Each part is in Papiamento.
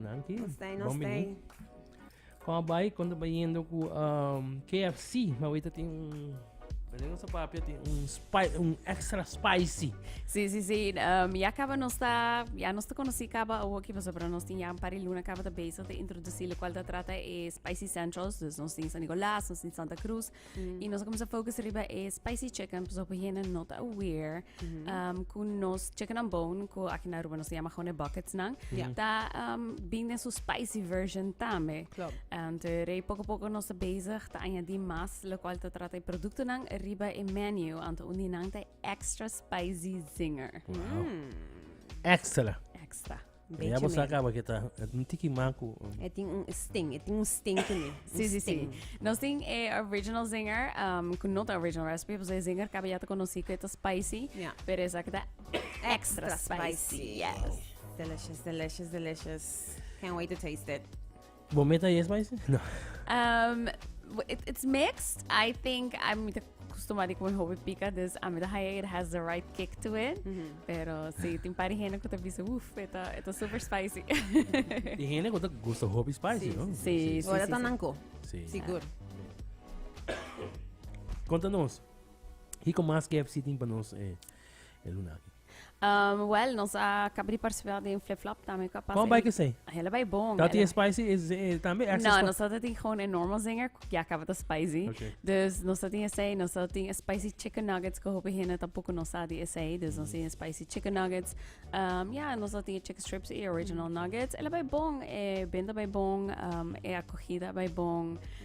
Danki. Nos ta, nos ta. Kom a bai kon ta bayendo ku um, KFC, ma weta tin un Belén sa papia tin un spice, un extra spicy. Sí, sí, sí. Um, ya acaba nos ta, ya nos ta conocí acaba o aquí paso, pero nos tin ya un par de luna acaba ta bezig te introducir lo cual ta trata e spicy centrals, dus nos tin San Nicolás, nos tin Santa Cruz, Mm. Y nos comienza focus riba e spicy chicken, pues op hiena not aware. Mm -hmm. um, ku nos chicken and bone, ku aki na Aruba nos llama gewoon buckets nan. Yeah. Ta um, binnen su spicy version tame. Klopt. En te rei poco poco nos bezig te añadi mas, lo cual te trata e producto nan riba e menu. Ante undi nan te extra spicy zinger. Wow. Mm. Extra. Extra. Bechi ya bosa acaba que ta un tiki macu. E tin un sting, e tin un sting to me. Sí, sí, sí. Nos tin e original zinger, um, que no ta original recipe, pues e zinger cabe ya te conocí que ta spicy, yeah. pero esa que ta extra, extra spicy. spicy. Yes. Wow. Delicious, delicious, delicious. Can't wait to taste it. Bo meta yes mai si? No. Um, it, it's mixed. I think I'm with costumado com hobby pica, dus a meta haya it has the right kick to it. Mm -hmm. Pero si tem pari hene que te bisa, uff, eta, eta super spicy. e hene que te gusta hobby spicy, sí, no? Sí, sí. sí, sí, Ora sí, tananco. Sí. Seguro. Conta-nos, e como mais KFC tem para nós eh, é, é Lunaki? Um, well, nos a acaba de participar den Flip Flop también. Capaz Kom bai kisei? Hele bai bon. Dat die spicy is eh, tambe extra No, spicy. nos dat die gewoon een normal zinger. Ja, acaba de spicy. Oké. Dus nos dat die zei, nos dat die spicy chicken nuggets. Que hopi hene tampoco nos sa die zei. Dus nos die spicy chicken nuggets. Um, ja, nos dat die chicken strips e original nuggets. Hele bai bon. E benda bai bon. Um, e acogida bai bon.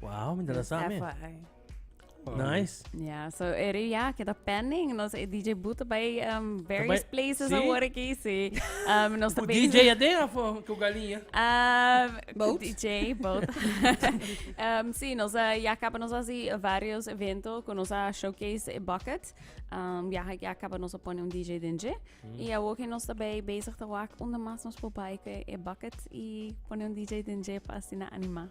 Wow, mi dala same. Nice. Ja, so eri ja, kita pending. Nos e DJ Boete bij um, various Bij- places sí. awor aqui, sí. Um, nos Ku também... DJ até a fo ku galinha. Um, Boat? DJ, boat. um, sí, nos uh, ya acaba nos así varios eventos con nos a showcase eh, bucket. Um, ya, ya acaba nos a poner un DJ denje. Y ahora que nos daarbij bezig te wak, onder más nos voorbij que e bucket y poner un DJ denje para así na anima.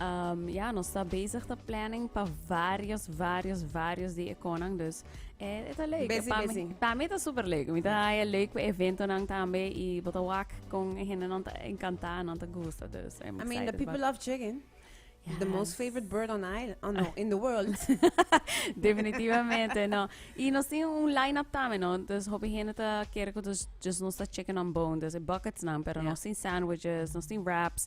Umm, ya, nos ta bezig ta planning pa varios, varios, varios di e konan, dus e, e ta leuk. Besi, pa, besi. Mi, pa mi ta super leuk. Mi ta haya leuk pa eventonan tambe i bo ta wak kon e hendenan ta encantá, nan ta gusta. Dus I'm excited. I mean, the people love chicken. Yes. The most favorite bird on island, oh no, in the world. Definitivamente, no. I nos tin un line-up tambe, no? Dus hopi hende ta kere ku dus just nos ta chicken on bone, dus e buckets nan, pero yeah. nos tin sandwiches, nos tin wraps.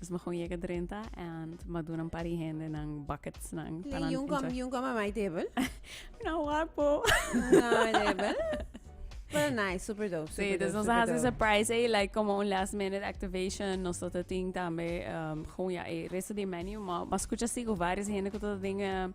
Nos me kon yega drenta en ma duna un par di hende nan bucketsnan. Lee yung kom, yung kom a my table. Na wapo. Na my table. Pero nice, super dope. Super sí, dus nos hace surprise eh, like como un last minute activation, nos tot ting tambe um, gewoon ja, eh, resto di menu, maar, maar escucha sigo varios hende que tot dingen,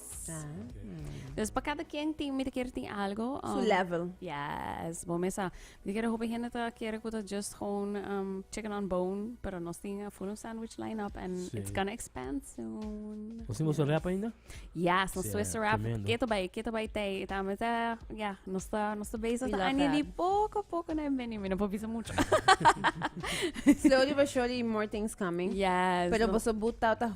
Dus pa kada ken tin mi ta kere tin algo. Um, Su level. Yes, bo mesa. Mi ta kere hopi hende ta kere ku ta just gewoon um, chicken on bone, pero nos tin a full sandwich lineup and sí. it's gonna expand soon. Ons hemos yes. rap ainda? Yes, nos Swiss rap. Tremendo. Keto bai, keto bai tei. Eta me ta, ja, nos ta, nos ta bezig ta anje di poco poco na beni, mi no po bisa mucho. Slowly but surely more things coming. Yes. Pero no. boso buta ta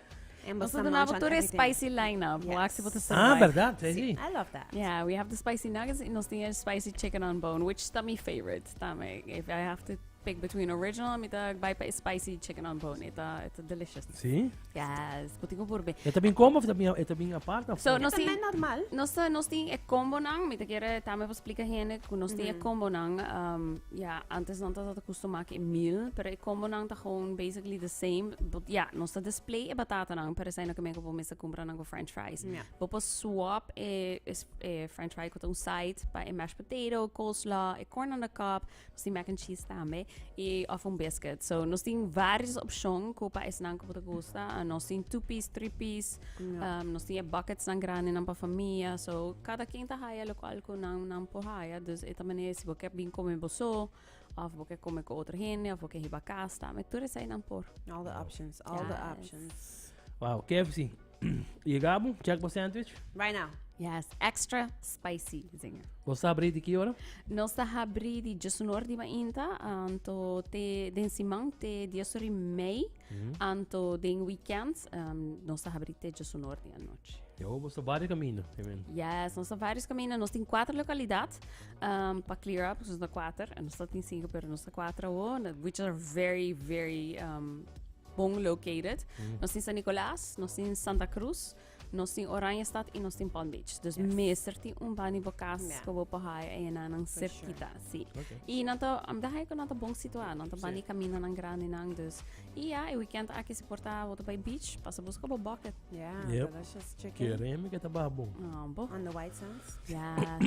Nos a duna bo tur e spicy line-up. Bo ask si bo ta survive. Ah, berdad, sí, sí. I love that. Yeah, we have the spicy nuggets y nos tin e spicy chicken on bone, which ta mi favorite tambe. If I have to pick between original, mi ta bai pa e spicy chicken on bone. E ta, e ta delicious. Sí? Yes, bo tin ku purbe. E ta bin combo of ta bin, e ta bin apart of? So, nos tin... También normal. Nos, nos tin e combo nan, mi ta kere tambe pa splika hende ku nos tin e combo nan. Um, Ya, antes nan ta ta ta custumá cu e mil, pero e combonan ta gewoon basically the same. But ya, nos ta display e batatanan, pero esei no ke men ku bo mester kumpra nan ku french fries. Ja. Bo por swap e, e, s- e french fry ku ta un side pa e mashed potato, coleslaw, e corn on the cob. Nos tin mac and cheese tambe, i, of un biscuit. So, nos tin vários opcion ku pa esnan ku bo ta gusta. Nos tin two piece, three piece. nos tin e bucketsnan grandenan pa famia. So, kada ken ta haya lokual ku nan, nan por haya. Dus e ta manera si bo ke bin kome boso, of bo ke kome ku otro hende, of bo ke hiba kas ta. Me tur eseinan por. All the options, all the Yes. options. Wow, KFC. Ye Gabo, check pa sandwich. Right now. Yes, extra spicy, zinger. Bo sa abri di ki ora? Nos ta habri di just un hor di mainta, um, to te den siman te dies hori mei. Anto den weekends nos ta habri te djosu nor di anochi. Yo, bo sta varios camino. Yes, nos sta varios camino. Nos tin cuatro localidad um, pa clear up, nos sta cuatro. Nos sta tin cinco, pero nos sta cuatro awo, which are very, very um, bon located. Mm. Nos tin San Nicolas, nos tin Santa Cruz. Nos tin Oranjestad y nos tin Palm Beach. Dus mester tin un bani bo cas yeah. bo por haai eyenan nan cerquita. Sure. Sí. Okay. Y nan ta, am daai con nan ta bon situado. Nan ta bani sí. camino nan grande nan. Dus, y ja, e weekend aki se porta boto bij beach. Pasa busca bo bucket. Yeah, yep. delicious chicken. Keremi que ta babo. Oh, bo. On the white sands. Yeah.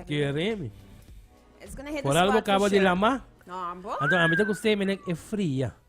Keremi. It's gonna hit Por the spot. Por algo acaba de lama. No, ambo. Então, a mim tá gostei, mas é fria.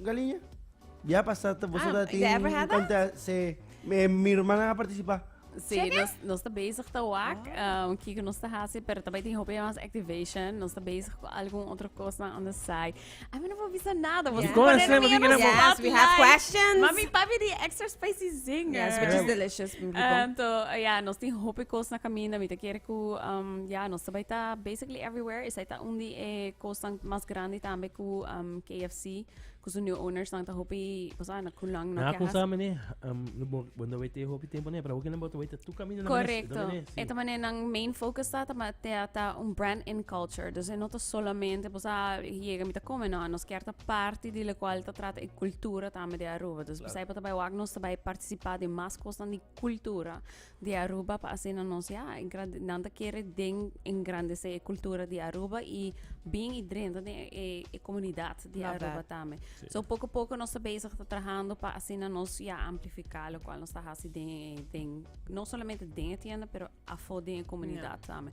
Galiña. Bia pasa ta boso Ah, tin ever had that? kanta se me mi hermana ha participa. Sí, nos, nos está bezig te wak. Ah. Um, Kiko nos está hace, pero también tiene hopi más activation. Nos está bezig con algún otro cosa on the side. A mí no me avisa nada. Vos Yeah. Go and say, mami, queremos- Yes, we have questions. Mami, papi, die extra spicy zinger. Yes, which is Yeah. delicious. Um, to, ja, nos tin hopi cos na camino. Mi te quiere cu, um, ja, nos te baita basically Play Everywhere esei ta un di e kosnan mas grandi tambe ku um, KFC, ku su new owners nan ta hopi, cosa na kulang no Na ke konsa hasi. mene, um, no bo, bo no wete hopi tempo ne, pero hoki na boto wete tu camino na mene, Correcto. na mene, sí. Eta mané nan main focus ta ta ma- ta, ta un brand in culture. Dus e no ta solamente pues ah, yega mi ta come, no. Nos kier ta parti di lo cual ta trata e cultura tambe di Aruba. Dus Claro. besei pa ta bai wak nos ta bai participa di mas cosnan di cultura. di Aruba pa asina nos ya engrandi nan ta kere den engrandece e cultura di Aruba y bin y drenta den e e comunidad di Aruba tambe so poco poco nos ta bezig ta trahando pa asina nos ya amplifica locual nos ta haci den den no solamente den e tienda pero afo den e comunidad tambe.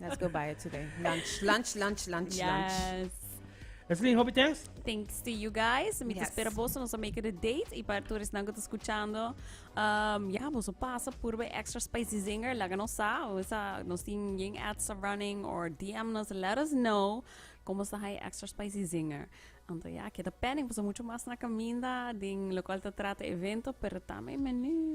Let's go buy it today. Lunch, lunch, lunch, lunch, yes. lunch. Esselin, hopi thanks. Thanks to you guys. Mi yes. espera vos nos make the date y para todos que están escuchando. Um, ja, vos pasa por bij extra spicy zinger. Laga nos sa, o esa nos tin yin ads are running or DM nos let us know como sa hay extra spicy zinger. Anto ja, queda pending, pues mucho más na caminda din lo cual te trata evento, pero también menu.